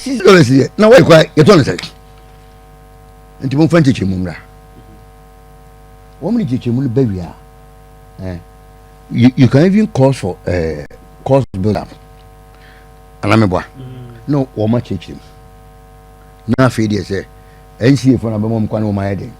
sisi dollars yɛ na wɔyɛ kura yɛtɔ no sɛn nti mo nfa nkyekyɛ mu mmra wɔn ne kyekye mu no bɛ wia ɛɛ you you can even call for ɛɛ eh, cause build up anamibua mm. na wɔn akyekye mu na afei deɛ sɛ nca fo na bɛma wɔn kwan na wɔn ayɛ den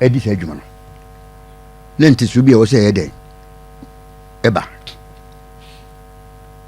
ɛdi sɛ adwuma no ne ntesu bi a wɔsɛ ɛyɛ den ɛba.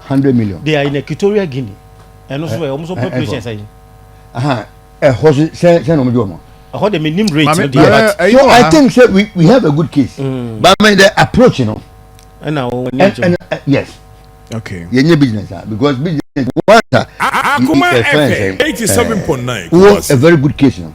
hundred million. they are in equatorial guinea ɛno so ɛ wɔn so population sɛ yi. ɛhɔ so sɛ sɛ na wɔn di wɔn. ɛhɔ de mi nim rate no di ɛba so i think say we we have a good case. Mm. but my the approach you know. ɛna wɔn ni ɛkyɛw. yes. okay. yɛn nye business ah because business one ah. akuma fm eighty seven point nine. wo a very good case you know.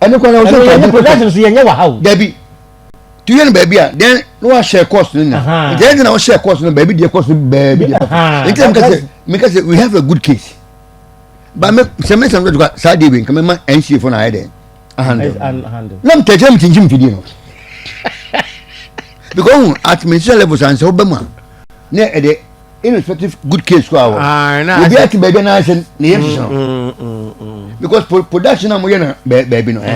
ɛno kwan na wotu ɔtɔ adi production so yɛnyɛ wɔ ha o dabi tu yɛ no baabi a then no wa share course no na nkyɛn ti na wo share course no baabi deɛ course no baabi deɛ papa nti na meka sɛ meka sɛ we have a good case ba me sɛ me sɛ no dɔdɔ saa deɛ wei nka me ma nca fo na ayɛ dɛ ahandle na mtɛ kyerɛ me kyinkyim fidie no because at ministerial level sanse wo bɛ mu a na ɛde irrespective good case kɔ awɔ obi ati baabi na ayɛ sɛ ne yɛ sisi no because production na mo yɛ na baabi no ɛ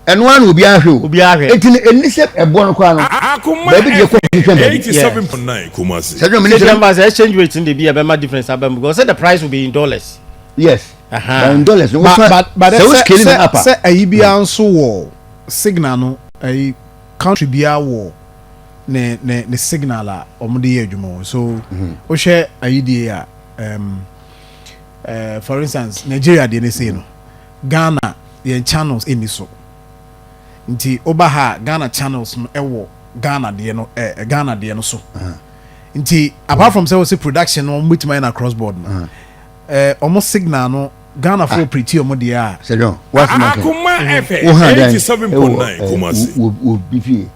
ɛno ara na obi ahwɛ o obi ahwɛ eti ne ɛni sɛ ɛboɔ no kɔ ano baabi deɛ kɔ hwehwɛ baabi sɛdeɛ mi ni sɛ ɛma sɛ exchange rate ni de bi ɛbɛ ma difference abɛn because say the price will be in dollars. yes uh-huh. in dollars no wofa sɛ o scale na apa sɛ ɛyi bi anso wɔ signal no ɛyi. Country biara wɔ ne ne ne signal a wɔn de yɛ adwuma o. So wohwɛ ayi die a um, uh, for instance Nigeria deɛ ne sei no Ghana yɛn channels ɛni so. Nti woba ha Ghana channels no ɛwɔ Ghana deɛ no eh, eh Ghana deɛ no so. Nti apart from sɛ wɔsi production no wɔn bɛtumi ayɛ na cross board no, eh, wɔn signal no Ghana fo ah. piriti ɔmo deɛ a. sɛdɔn waasi ma kɛn wo ha dan ɛwɔ ɛɛ wo wo bi fie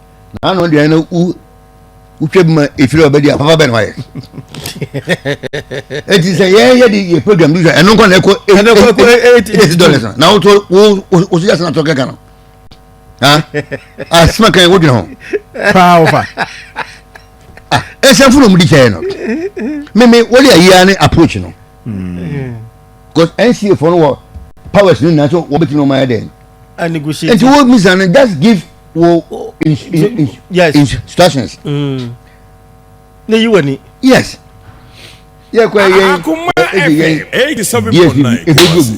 na ano deɛ no wo wotwa bi ma efiri ɔbɛ di a papa bɛ na wayɛ eti sɛ yɛ yɛ di yɛ program bi sɛ ɛno nkɔ na ɛkɔ eight eight dollars na na wotɔ wo wo soja sena tɔ kɛkɛ no ha asima ah, kɛn wo dwene ho. paa ɔfa. ɛsɛ funu mu di kyɛn no mímí wọ́n yɛ yíya ni approach no. because nca fɔ no wɔ powers no nyinaa so wɔbɛtumi na wɔn ayɛ dɛn nti wo misa no just give wo instructions. Mm. ne yi wani. yes yɛ kɔ yɛn ɛdi yɛn dsb ɛdi ogu.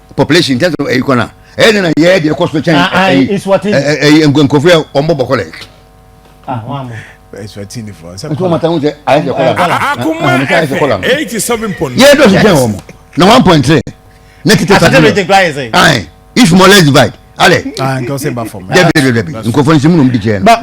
population in terms of ɛyi kɔ na ɛyɛ dɛ na yɛ deɛ ɛkɔ so kyɛn ɛyi ɛyi nkurɔfo yɛ wɔn bɔ bɔkɔ lɛ. Eswatini fɔ nsɛm kɔla nti wɔn sɛ ayɛ sɛ kɔla no akoma fm eighty seven point nine yɛ dɔ so kyɛn wɔn na one point three ne tete sa bi ayi if more less divide alɛ dɛbi dɛbi dɛbi nkurɔfo nsimu na wɔn di kyɛn no.